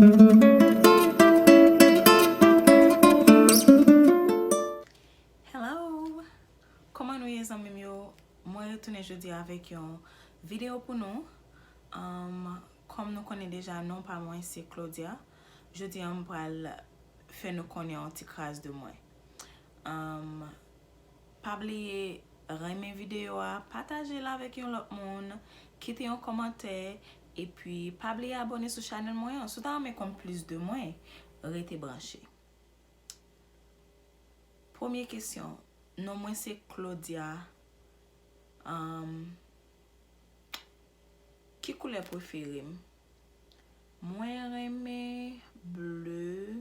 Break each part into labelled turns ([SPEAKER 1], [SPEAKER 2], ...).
[SPEAKER 1] Kòman nou ye zanmim yo Mwen retounen jodi avèk yon video pou nou Kòm nou konnen deja non pa mwen se Claudia Jodi an m pral fè nou konnen yon ti kras de mwen Pa bliye renmen video a, pataje l avèk yon lòt moun Kite yon kòmantè Epi pa bliye abone sou chanel mwen an si w ta renmen konn plis de mwen rete branche. Premye kesyon non mwen se Claudia um ki koulè prefere m mwen renmen bleu.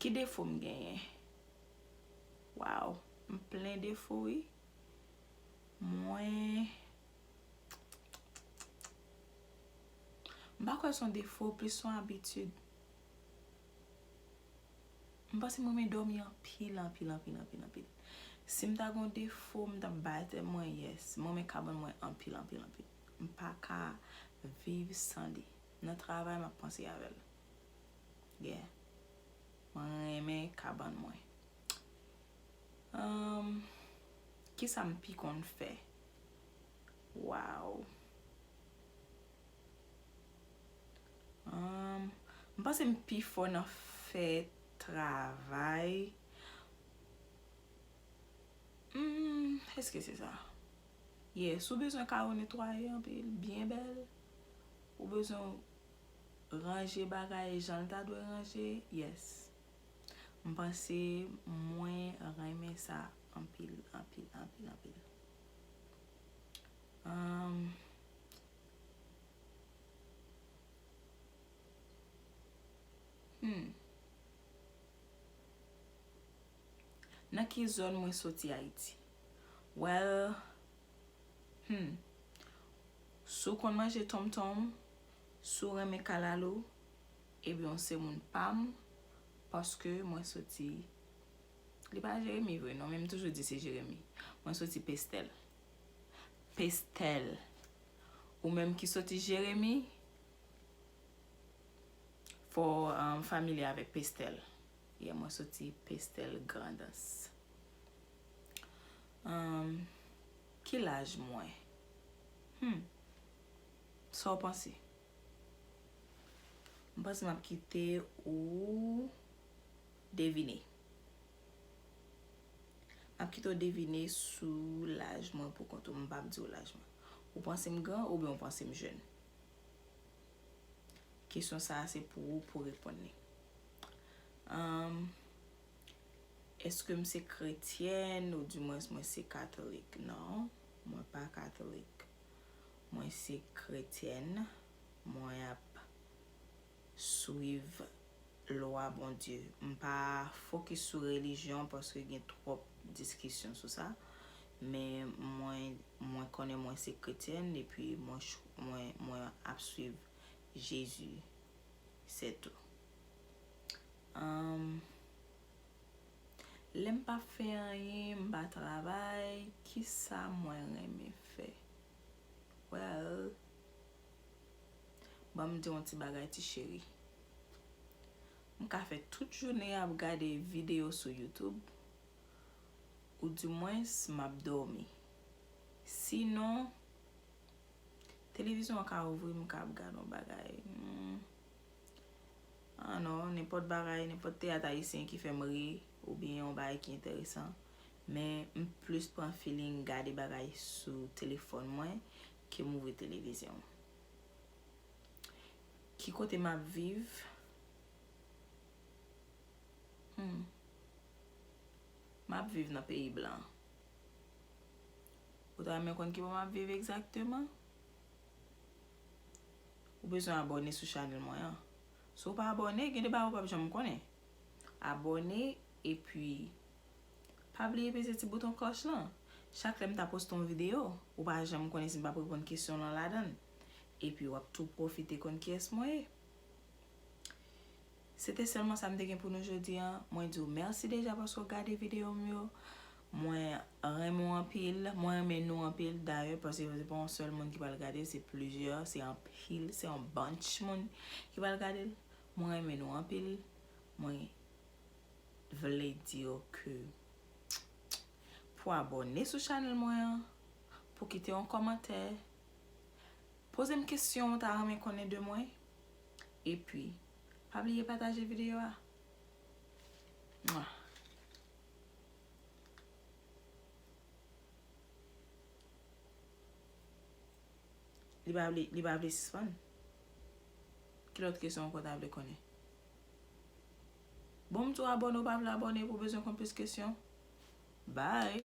[SPEAKER 1] Ki defo m genyen? Waw, m plen defo wi. Mwen... M pa kwè son defo, plis son abitid. M panse m renmen dòmi anpil, anpil, anpil, anpil, anpil. Si m ta gen yon defo, m ta bay tèt mwen yes. M renmen kabann mwen anpil, anpil, anpil. M pa ka viv san li. Nan travay map panse avèl gen mwen renmen kabann mwen humm kisam pi konn fè waww humm m panse m pi fò nan fè travay humm eske se sa ye si w bezwen kay ou netwaye anpil byen bèl. Ou bezwen ranje bagay jan l ta dwe ranje? Yes. M panse mwen renmen sa anpil, anpil, anpil, anpil. Humm. Nan ki zòn mwen soti Ayiti? Well, Humm si w konn manje tonm tonm, si w renmen kalalou ebyen w se moun pa m paske mwen soti li pa Jeremi vre non men m toujou di se Jeremi mwen soti Pestèl Pestèl Ou menm ki soti Jeremi fò w familye avèk Pestèl Yeah mwen soti Pestèl Grandans Humm ki laj mwen? Humm sa w panse? M panse m ap kite ou devine. M ap kite w devine sou laj mwen pou kont ou. M pap di w laj mwen. Ou panse m gran oubyen ou panse m jèn? Kesyon sa a se pou ou pou reponn li. Humm. Eske m se kretyèn ou di mwens mwen se katolik? Non, mwen pa katolik. Mwen se kretyèn, mwen ap swiv lwa Bondye. M pa fokis sou relijyon paske gen twòp diskisyon sou sa. Men mwen, mwen konnen mwen se kretyèn epi mwen ap swiv Jezi, sètou. Humm lèm pa fè anyen m pa travay kisa mwen renmen fè well banm diw yon ti bagay ti cheri m ka fè tout jounen ap gade video sou YouTube ou di mwens map dòmi si non televizyon an ka ouvri m ka ap gad yon bagay humm. Ah non, nenpòt bagay, nenpòt teyat ayisyen ki fè m ri oubyen yon bagay ki enteresan. Men, m plis pran feeling gade bagay sou telefòn mwen ke m ouvri televizyon. Ki kote m ap viv? Hum. M ap viv nan peyi blan. Ou ta renmen konn ki bò m ap viv egzakteman? Ou bezwen abòne sou chanèl mwen an. Si w pa abòne, gen de bagay ou pap janm konnen. Abòne, epi, pa bliye peze ti bouton klòch lan. Chak lè m ta poste yon videyo, ou pa janm konnen si m pap reponn kesyon lan ladan l. Epi wap tou pwofite konn kiyès mwen ye. Se te sèlman sa m te gen pou nou jodi an. Mwen di w mèsi deja paske w gade videyo m yo. Mwen renmen w anpil, mwen renmen nou anpil dayè paske se pa yon sèl moun ki pral gadel se plizyè, se anpil, se yon bunch moun ki pral gadel. Mwen renmen nou anpil, mwen vle di yo ke pou abòne sou chanèl mwen an, pou kite yon kòmantè, poze m kesyon ou ta renmen konnen de mwen, epi pa bliye pataje videyo a. Li pa vle, li pa vle sispann. Ki lòt kesyon ankò w ta vle konnen? Bon m tou abòne ou pa vle abòne pou w bezwen konn plis kesyon. Bye!